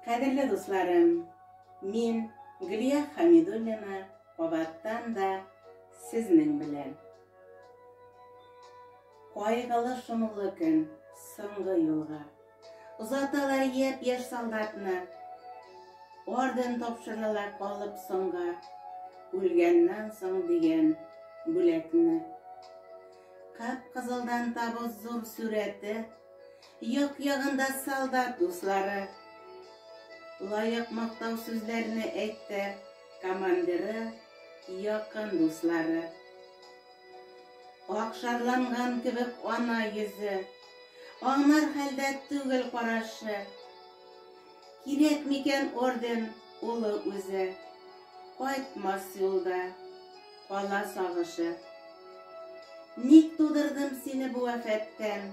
Кадерле дусларым, мин Гөлия Хәмидуллина кабаттан да сезнең белән. Кайгылы шомлы көн, соңгы юлга. Озаталар яп яш солдатны, орден тапшыралар калып соңга, үлгәннән соң дигән бүләкне. Кап-кызылдан табыз зур сүрәте, Як-ягында солдат дуслары лаек мактау сүзләрне әйтте, командиры, якын дуслары. Ак шарланган кебек ана йөзе, аңнар хәлдә түгел карашы. Кирәк микән орден улы үзе, кайтмас юлда кала сагышы. Ник тудырдым сине бу афәттән?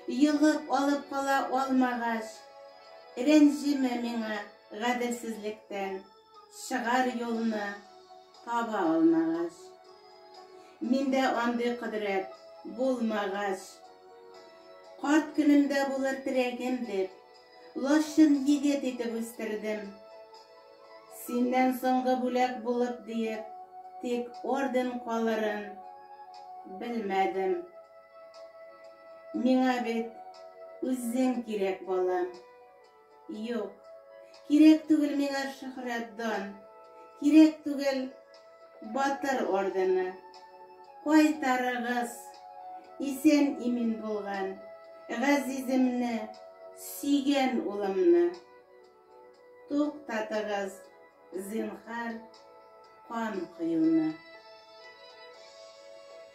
Йогып алып кала алмагач, Рәнҗеме миңа гаделсезлектән, Чыгар юлны таба алмагач. Миндә андый кодрәт булмагач. Карт көнемдә булыр терәгем дип, Лачын егет итеп үстердем. Синнән соңгы бүләк булып диеп, Тик орден калырын белмәдем. Миңа бит үзең кирәк, балам. Юк, кирәк түгел миңа шөхрәт дан, кирәк түгел батыр ордены. Кайтарыгыз, исән имин булган газиземне, сөйгән улымны. Туктатыгыз, зинхар, кан коюны.